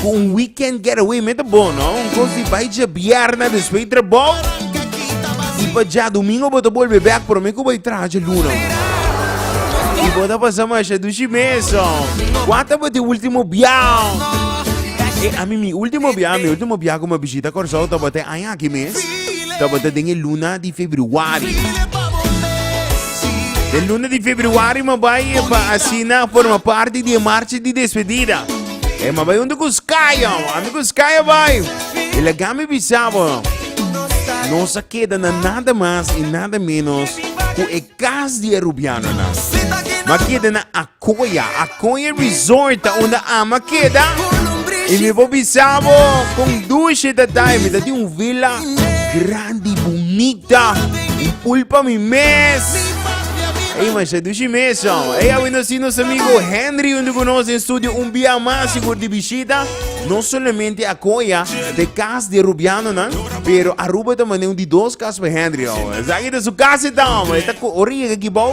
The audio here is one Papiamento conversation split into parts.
Cu un weekend getaway me ta bon, no? Un cos di bai dje bierna despues trabao. Y pa dje domingo bo ta bolbe back, pero me cu bai traha dje luna. Y bo ta pasa masha dushi meso. Cuata bo te ultimo biao? E a mi mi ultimo biao, mi ultimo biao cu mi a bishita Corsou tabata e aña aki mes. Tabata den e luna di Februari. El luna di februari ma bai pa asina forma parti di marcha di despedida. E ma bai unde kus kaya, ande kus kaya bai. E la gami bisabo. No sa keda na nada mas e nada menos ku e kas di e rubiano na. Ma keda na Koya, a Koya Resort ta unda Ama keda y mi por bisa bo con dulce ta ta y mi ta tin un villa grandi bunita un pool pa mi mes. Ey man, se dushi mes man. Ey a win así nos amigo Henry junto con nos en studio un via más si por di visita. No solamente a Koya de cas de Rubiano nan, pero Aruba ta mane un di dos cas pa Henry. Oh. Zagi ta su casa ta, man. Ta ko ori llega aquí bau.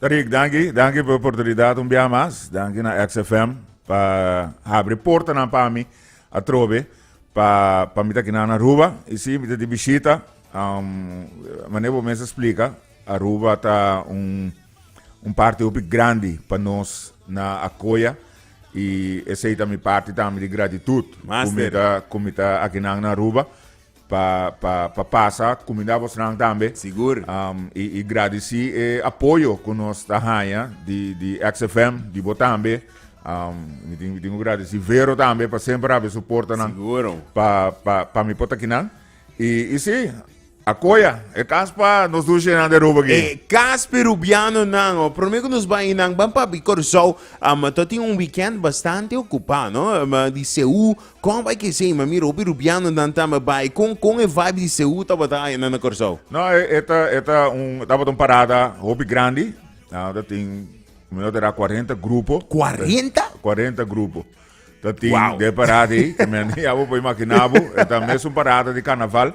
Rick danki, danki pa e oportunidat un biaha mas, danki na XFM pa habri portanan pa mi atrobe pa pa mi ta kina na Aruba y si mi ta di bishita mane bo mester splica Aruba ta un un parti hopi grandi pa nos na Acoya y esey ta mi parti tambe di gratitud cu mi ta cu mi ta aki nan na Aruba. pa pa pa pasa kuminda bosnan tambe. Sigur. Um, i, i gradisi e apoyo ku nos ta haña di di XFM, di bo tambe. Um, mi tin mi tin ku gradisi Vero tambe pa semper abi suportanan Siguro. pa pa pa mi potakinan. I i si akoya e kas pa nos dushenan de roba ki. E kas perubiano nan, o prome ku nos bai inan ban pa Bicurso, um, to tin un weekend bastante okupá, no? Um, di CU Kon bai ki esei? Ma mira hopi rubianonan tambe bai. Kon kon e vibe di Seú tabata ayana na Kòrsou? No, e ta e ta un tabata un parada hopi grandi. Ta tin mi no ta ra cuarenta grupo. Cuarenta? Cuarenta grupo. Ta tin Wow. de parada ei ke mi ni abo por imaginá bo. E ta mes un parada di karnaval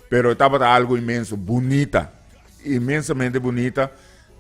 pero e tabata algu inmenso bunita. Inmensamente bunita.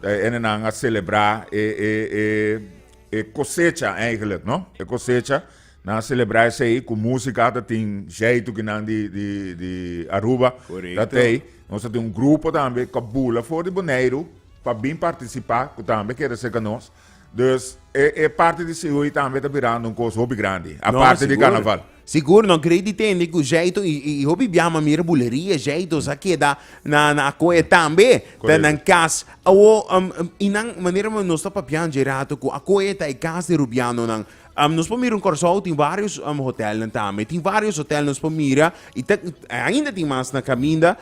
Ene nan a selebrá e e e e kosecha eigenlijk no. E kosecha Nan celebra esey cu musica ta tin jeitu ki nan di di di Aruba Correcto. ta tey. Nos ta tin un grupo tambe cu a bula for di Boneiru pa bin participa cu tambe kere ser ca nos. Dus e e parti di Sehoe tambe ta birando un cos hopi grandi No, aparte di sigur. carnaval. Sigur, no grei di tende cu jeitu y y hopi bia mi a mira buleria jeitu sa keda na na Akoya tambe ta Correcto. nan cas. Awo um y nan manera nos ta papia dje rato cu Akoya ta e cas di Rubianonan. Um, nos por mira un Corsou, tem vários um, hotelnan também, tem vários hotel nos por mira, e ta, ainda tem mais na caminda,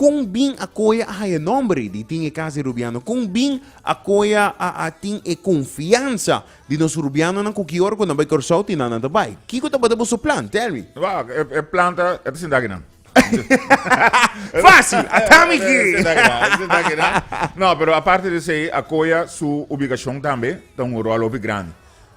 com bem a coia a haia nombre de tem e casa de Rubiano, com bem a coia a, a tem e confiança de nos Rubiano na cuki hora quando vai Corsou, tem na na bai. Kiko tabata boso plan, tell me. Wow, e, e planta, e te sintaki nan. Fácil, hasta mi No, pero aparte de sei, Acoya su ubicación tambe ta un rol hopi grande.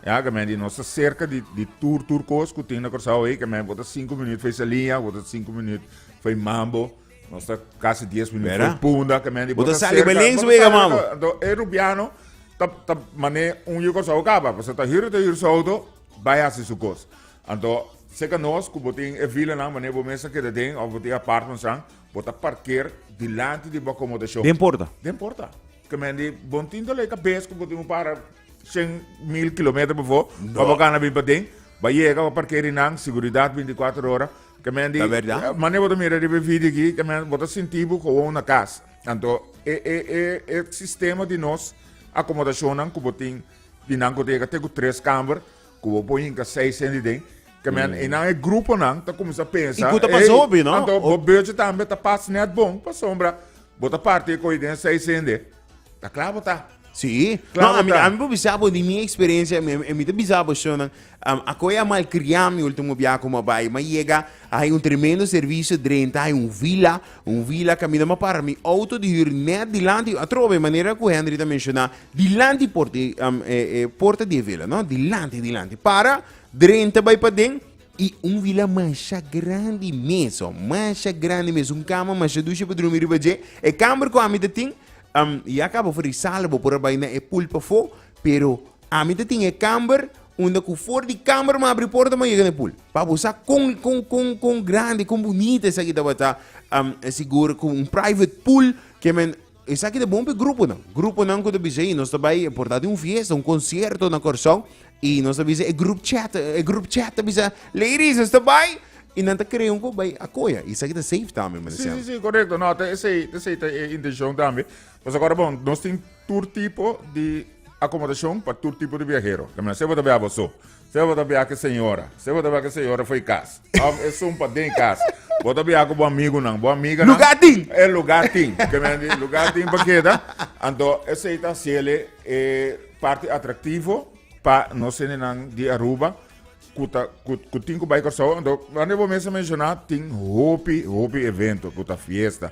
Ya, que men di nos cerca di, di tur, tur cos que tin na Curaçao ei, que men bota 5 minutos fei salia, bota 5 minutos fei mambo, nos ta casi 10 minutos fei punda, que men di bota cerca. Bota sali links wega mambo. Do e rubiano, ta, ta mané un yo Curaçao capa, pues ta hiro, ta hiro soto, vaya si su cos. Anto, seca nos cu bo tin e vilanan manera bo mes a keda den of bo tin apartments an, bo ta parker dilanti di bo acomodacion. Den porta? Den porta. Ke men di, bon tin ta lei ta bes cu bo tin un para cien mil kilometer befo, pa bo gana bin paden, ba yega, ba parker ri nan, seguridad binticuater ora. Ke men di, manera bo ta mira riba e video aki, ke men, bo ta sinti bo gewoon na cas. Anto, e, e, e, e sistema di nos acomodacionnan cu bo tin, di nan cu ta yega te cu tres camber, Ku bo por hinka seis hende den kaminda. Einan e gruponan ta kuminsá pensa. I ku ta pasá hopi, no? Anto bo beurtje tambe ta pas nèt bon pasobra bo ta parti e koi den e seis hende. Ta kla bo ta. Sí. Kla bo ta. No, ami por bisa bo di mi eksperensia, mi ta bisa bo shon, a koi a malkriá mi último biaha ku mi a bai, mi a yega Hay un tremendo servicio drenta hay un vila, un vila camina ma para mi auto di huur net dilanti atrobe manera cu Henry ta menciona dilanti porta di um, eh, eh, porta di e vila, no? Dilanti, dilanti. Para, drenta bay paden y un vila masha grandi mes, oh, masha grandi mes, un cama masha dusha pa drumi riba dje. E camber cu ami ta tin, um, ya caba for di sala, bo por a bay na e pool pafo, Pero ami ta tin e kamber unda ku for di kamber mi a abri porta mi a yega na e pul. Pa bo sa kon kon kon kon grandi, kon bunita esaki tabata, am, sigur ku un private pool ke men esaki ta bon pa e gruponan. Gruponan ku ta bisa, "Ei, nos ta bai, por ta tin un fiesta, un konsierto na Kòrsou, i nos ta bisa e grup chat, e grup chat ta bisa, Ladies, nos ta bai! I nan ta krea un ku bai a koya. I esaki ta safe tambe, mi ta Sí, sí, sí, correcto. No, ta esei, ta esei ta e intencion tambe. Pues agora bon, nos tin tur tipo di akomodashon pa tur tipo di biahero. Kaminda sea bo ta biaha bo so, sea bo ta biaha ku e señora, sea bo ta biaha ku e señora for e kas, òf esun pa den kas, bo ta biaha ku bo amigunan, bo amiganan. Lugá tin! E lugá tin. Kaminda di lugá tin pa keda. Anto esei ta hasiéle e parti atraktivo pa nos hendenan di Aruba ku ta ku tin ku bai Kòrsou. Anto, wande bo mes a menshoná tin hopi, hopi evento ku ta fiesta.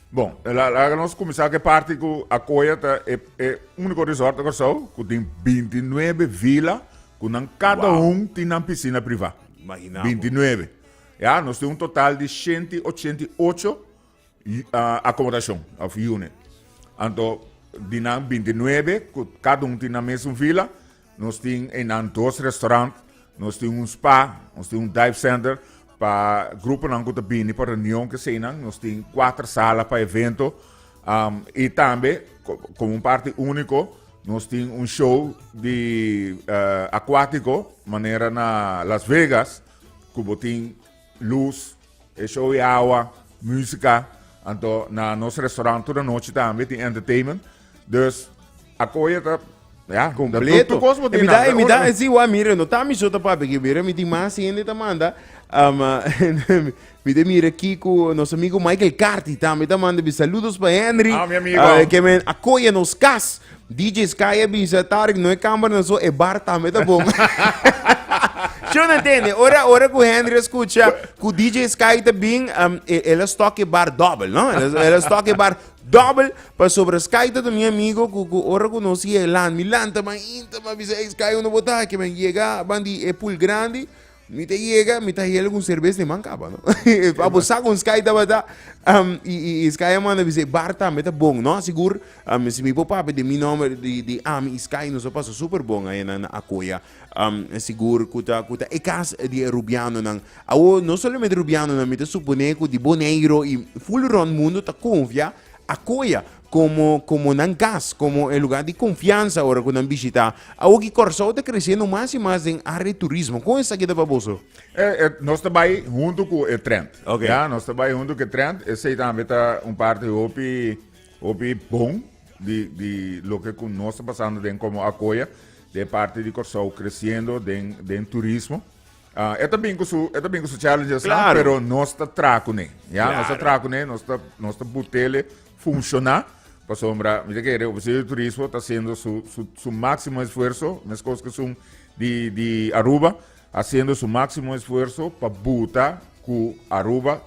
Bon, laga nos kuminsá ku e parti ku Akoya ta e, e úniko resort na Kòrsou ku tin 29 vila ku nan kada wow. un tin nan pisina privá. Imaginá. 29. Ja, nos tin un total di 188 uh, akomodashon of unit. Anto di nan 29 ku kada un tin nan mesun vila, Nos tin einan dos restaurant, nos tin un spa, nos tin un dive center pa gruponan ku ta bini pa reunion kesei nan, nos tin kuater sala pa evento, um, i tambe ko- komo un parti úniko nos tin un show di eh, akwátiko manera na Las Vegas ku bo tin lus, e show di awa, musica, anto na nos restaurant tur anochi tambe tin entertainment. Dus a koye ta ja, completo. Tu cos botin. Mira, mira, si wa mire, no tami so ta papi, que mira, mi tin mas hende ta manda. Um, mi te mira Kiko, nos amigo Michael Carti tambe ta manda bi saludos pa Henry. Ah, mi amigo. Uh, que men a koye nos cas. DJ Sky a bisa Tarik no e cameranan so e bar tambe ta bon. Yo no entiende. Ora, ora cu Henry escucha cu DJ Sky ta bin, um, e- el a stock e bar double, no? El, a- el a stock e bar double. Pa sobre Sky ta mi amigo cu, cu ora cu no si e land, mi land ta ban inta, ma bisa, hey Sky, uno bota aquí, men llega, ban di e pool grandi, Mi ta yega, mi ta hel un serbes na e man kaba, no? Pa bo sa kon Sky tabata, um, i, i, i Sky a manda mi se, bar tambe ta bon, no? Sigur, um, si mi por papia di mi nomber, di, di Ami i Sky, nos a pasa super bon aya nan na Akoya. Um, sigur ku ta, ku ta e kas di e Rubianonan. Awo, no solamente Rubianonan, mi ta supone ku di Boneiro i full rond mundo ta konfia Akoya. komo komo nan kas, komo e lugá di konfiansa ora ku nan bishitá. Awo ki Kòrsou ta kresiendo mas i mas den área di turismo, kon esaki ta pa boso? E e nos ta bai huntu ku e trend. Oke. Ya, nos ta bai huntu ku e trend. Esei tambe ta un parti hopi hopi bon di di loke ku nos ta pasando den komo Akoya, den parti di Kòrsou kresiendo den den turismo. Ah, e ta bin ku su, e ta bin ku su challenges la, Claro. pero nos ta tra kuné. Ya, nos ta Claro. tra kuné, nos ta nos ta butele funciona. Pasombra, mi te kere, Oficio de Turismo ta haciendo su su su máximo esfuerzo, mes kos ke sun di di Aruba, haciendo su máximo esfuerzo pa buta ku Aruba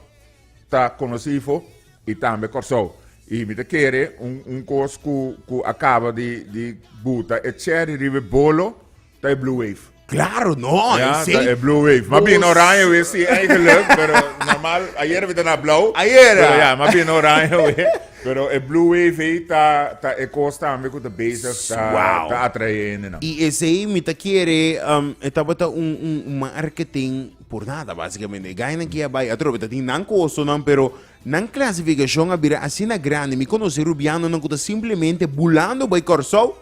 ta konosifo i tambe Kòrsou. I mi ta kere un un kos ku ku a kaba di di buta e cherry riba e bolo, Ta e Blue Wave. Claro, no, ja, e seis. Ta e Blue Wave. Mas bien oranje we, sí, eigenlijk, pero normal, ayer we ta na blauw. Ayer, ja. Pero ja, mas bien oranje we. Pero e Blue Wave ei ta, ta e kos tambe ku ta bezig ta, wow. ta atrae hendenan. I esei mi ta kere, um, e tabata un, un marketing por nada, basikamente. E gainan kia bai atrobe, ta tin nan kostonan, pero nan klasifikashon a bira asina grandi. Mi konosé rubianonan ku ta simplemente bulando bai Kòrsou,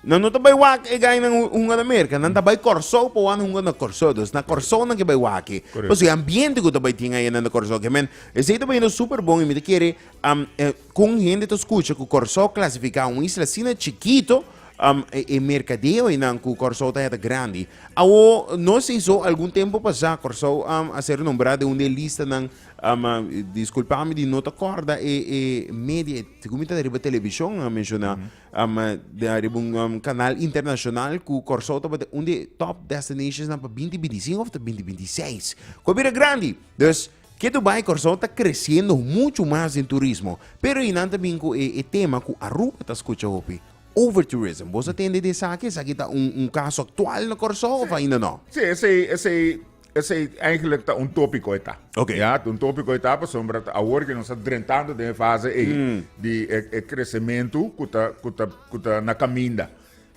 Nan no ta bai wak e gai nan hunga na Merka, nan ta bai Kòrsou pa wan hunga na Kòrsou. Dus na Kòrsou nan ke bai waki. Correcto. Pasobra e ambiente ku ta bai tin ayina na Kòrsou, ke men, esei ta bai yendo super bon i mi ta kere am e kon hende ta skucha ku Kòrsou klasifiká un isla asina chikito, am e e merkadeo einan ku Kòrsou ta heta grandi. Awo no esei so, algun tempu pasá Kòrsou am a ser nombrá den un di e listanan, am a diskulpámi di no ta kòrda e e media, e ku mi ta riba televishon a menshoná, um den ariba un um kanal internashonal ku Kòrsou tabata un di e tòp destinashonsnan pa binti binti sinku òf ta binti binti seis ku a bira grandi dus ketu bai Kòrsou ta kresiendo muchu mas den turismo pero i nan ta bin ku e tema ku Aruba ta skucha hopi over tourism boso tende di esaki esaki ta un un kaso aktual na Kòrsou òf ainda nò. Sí esei esei Esei eigenlijk ta un topiko e ta. Okay. Ya, un topiko e ta pasobra ta awor ke nos a drentando den e fase ei mm. di e, e kresementu ku ta ku ta ku ta na kaminda.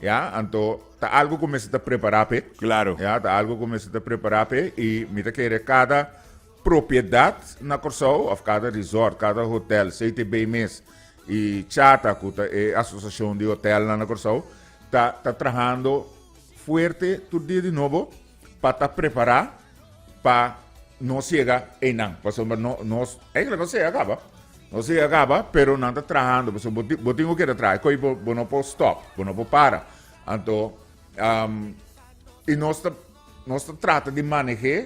Ya, anto ta algo ku mester ta prepara pe. Claro. Ya, ta algo ku mester ta prepara pe i mi ta kere kada propiedad na Kòrsou of kada resort, kada hotel, CTB mes i Chata ku ta e asosiashon di hotel na Kòrsou ta ta trahando fuerte tur dia di nobo pa ta prepará pa nos yega einan, pasobra no, nos, eigentlik nos yega kaba, nos yega kaba, pero nan ta trahando, pasobra bo tin, bo tin ku keda traha, e kos ei bo, bo no por stòp, bo no por para, anto i nos ta, nos ta trata di maneh'é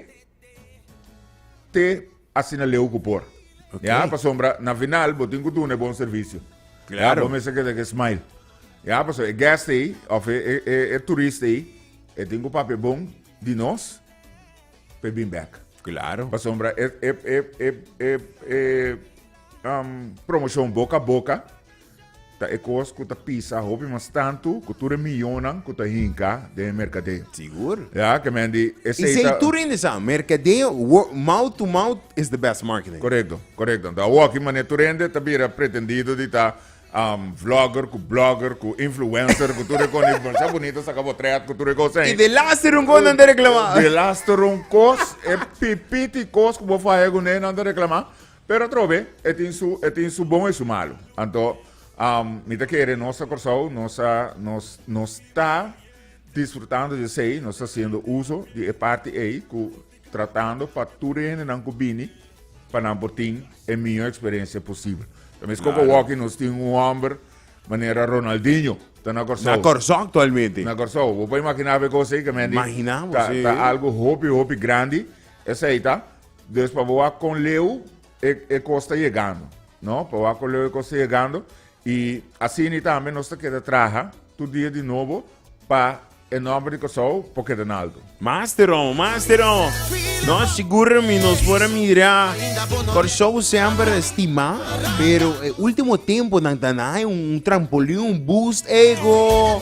te. Asina leu ku por. Okay. Ya, pasobra na final bo tin ku duna e bon servisio. Claro. Ya, bo mester keda ke smile. Ya, paso e guest ei, of e, e, e, e turist ei, e tin ku papia bon di nos, pe bin back. Claro. Pasobra e, e, e, e, e, e um, promoshon boka boka, Ta e kos ku ta pisa hopi mas tantu ku tur e miyonnan ku ta hinka den e merkadeo. Sigur. Ya, ke men di esei ta. Esei tur in sa, merkadeo, mouth to mouth is the best marketing. Korekto, korekto. Nto awoki manera tur hende ta bira pretendido di ta vlogger ku blogger ku influencer ku tur e kos, di masha bunito saka potret ku tur e kos ei. I de laste run kos nan ta reklama. De laste run kos, e pipiti kos ku bo faya ku ne nan ta reklama. Pero atrobe e tin su e tin su bon e su malu. Anto um, mi ta kere nos ta Kòrsou, nos ta nos nos ta disfrutando di esei, nos ta haciendo uso di e parti ei ku tratando pa tur e hendenan ku bini pa nan por tin e mihó eksperensia posibel. Ta mes koko Claro. walkie nos tin un hòmber manera Ronaldinho ta na Kòrsou. Na Kòrsou aktualmente. Na Kòrsou. Bo por imaginá pe kos ei, ke men di, Imaginá bo, ta, sí. ta algo hopi, hopi grandi Esei ta. Dus pa bo a con leu e, e cos ta yegando. No? Pa bo a con leu e cos ta yegando. Y asini tambe nos ta keda traha tur dia di nobo pa e nomber di Kòrsou por keda nalto. Masteron, masteron! Nos sigur mi nos por a mira Kòrsou semper estima, pero e ultimo temponan ta na hay un trampolin, un boost ego.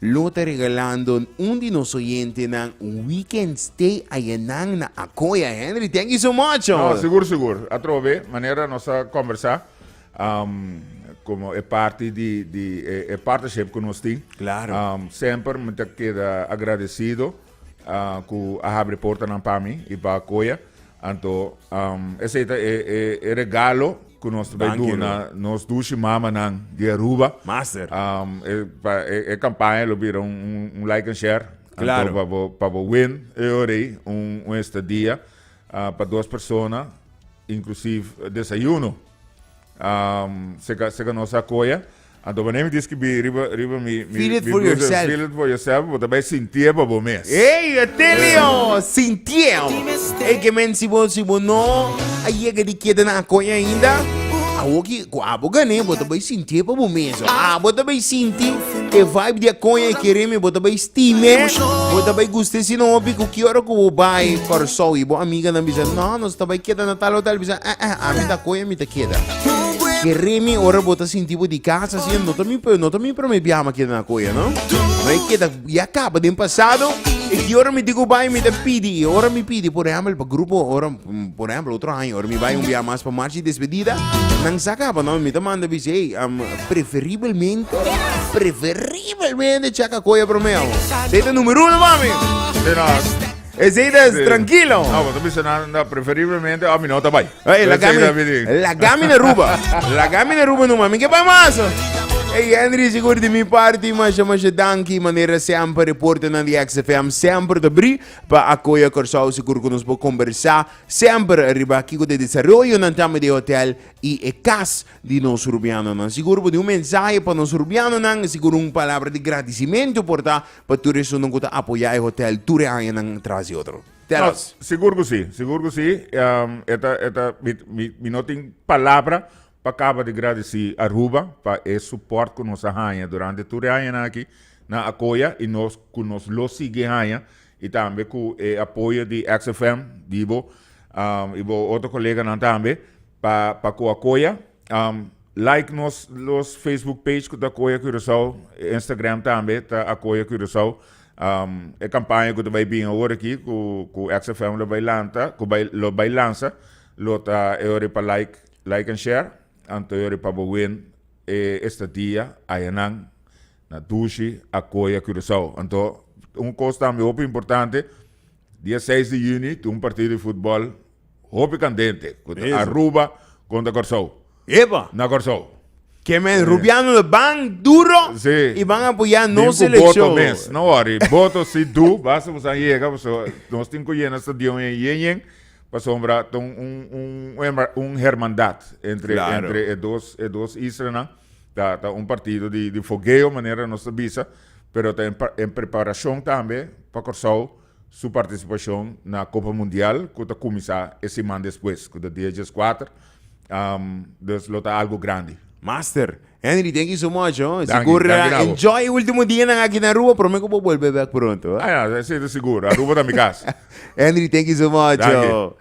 Lo ta regalando un di nos oyentenan un weekend stay ayanan na Acoya. Henry, thank you so much, No, hoor. sigur, sigur. Atrobe be, manera nos a conversa, um, como e parti di, di e, e partnership cu nos tin, Claro. um, semper me ta keda agradecido uh, cu a habri portanan pa mi y pa Acoya. Anto esei ta e regalo ku nos ta bai duna nos dushi mamanan di Aruba. Master. E kampaña lo bira un like and share. Klaro. Anto pa bo win e ora ei un estadia pa dos persona inklusiv desayuno. Seka nos a koya? Anto wanneer mi diskibí riba riba mi mi Feel it mi for blues yourself. en Feel it for yourself bo ta bai sintié pa bo mes. Ey, a telio, sintieo. Ey ke men si bo si bo no a yega di keda na Akoy ainda, awoki ku abo gané bo ta bai sintié pa bo mes. Abo ta bai sinti e vibe di Akoy e kere mi bo ta bai stim'e, bo ta bai gust'e sino hopi ku ki ora ku bo bai Kòrsou i bo amiganan bisa no nos ta bai keda na tal hotel bisa eh eh ami ta Akoy mi ta keda. Keremi ora bo ta sinti bo di casa así, no ta mi, no ta mi primer viaje ma keda na Koya, no? No e keda, ya caba den pasado, e ki ora mi diku bai mi ta pidi, e ora mi pidi, por ehempel, pa grupo, ora, por ehempel, otro año, ora mi bai un viaje mas pa marcha di despedida, nan sa caba, no? Mi ta manda bishi, ey, preferibelmente, preferibelmente checa Koya promé, abo. Sa e ta numero uno pa mi. Eseidas tranquilo. No, vos bisa na, na preferiblemente a mi no ta bai. Hey, la gamina, la gamina ruba. la gamina ruba no mami que pamaso. Hey Henry, seguro de mi parte, mas mas danki manera sempre reporte na de XFM sempre te bri pa acoya Corsao seguro que nos po conversa sempre arriba kiko de desarrollo nan tambe de hotel y e cas di nos rubiano nan. Seguro po de un mensaje pa nos rubiano nan, seguro un palabra de agradecimiento porta pa tur e esunnan ku ta apoyá e hotèl tur e añanan tras di otro. Tell us. No, sigur ku si, sigur ku si. Um, e ta, e ta, mi, mi, mi no tin palabra pa kaba di gradisí Aruba pa e suport ku nos a haña durante tur e añanan aki na Akoya i nos ku nos lo sigui haña i tambe ku e apoyo di XFM, di bo, um, i bo otro koleganan tambe. Pa pa ku a koya like nos los facebook page ku ta koya Curaçao e Instagram tambe ta a koya Curaçao e kampaña ku ta bai bin awor aki ku ku XFM lo bai lanta ku bai lo bai lansa lo ta e ora pa like like and share anto e ora pa bo win e estadia ayanan na dushi a koya Curaçao anto un kos tambe hopi importante. Dia seis di juni tin un partido di futbol hopi candente cu ta Aruba contra Corsou. Epa! Na Corsou. Ke men Rubiano lo ban duro Si. y ban apoya Bin nos cu boto seleccion. mes. No worry. Boto si du. Basta boso a yega paso nos tin cu yena stadion en yen yen pasobra ta un un un un hermandad entre Claro. entre e dos e dos islanan. Ta ta un partido di di fogueo manera nos ta bisa, pero ta en preparacion tambe pa Corsou su participacion na Copa Mundial cu ta cuminsa e siman despues cu ta dia diascuater, dus lo ta algo grandi. Master. Henry thank you so much ho. Danki, Sigur danki na bo. enjoy e ultimo dianan aki na Aruba, promé ku bo bolbe bèk pronto. Ah ya, esei ta sigur. Aruba ta mi kas. Henry thank you so much Danki. ho.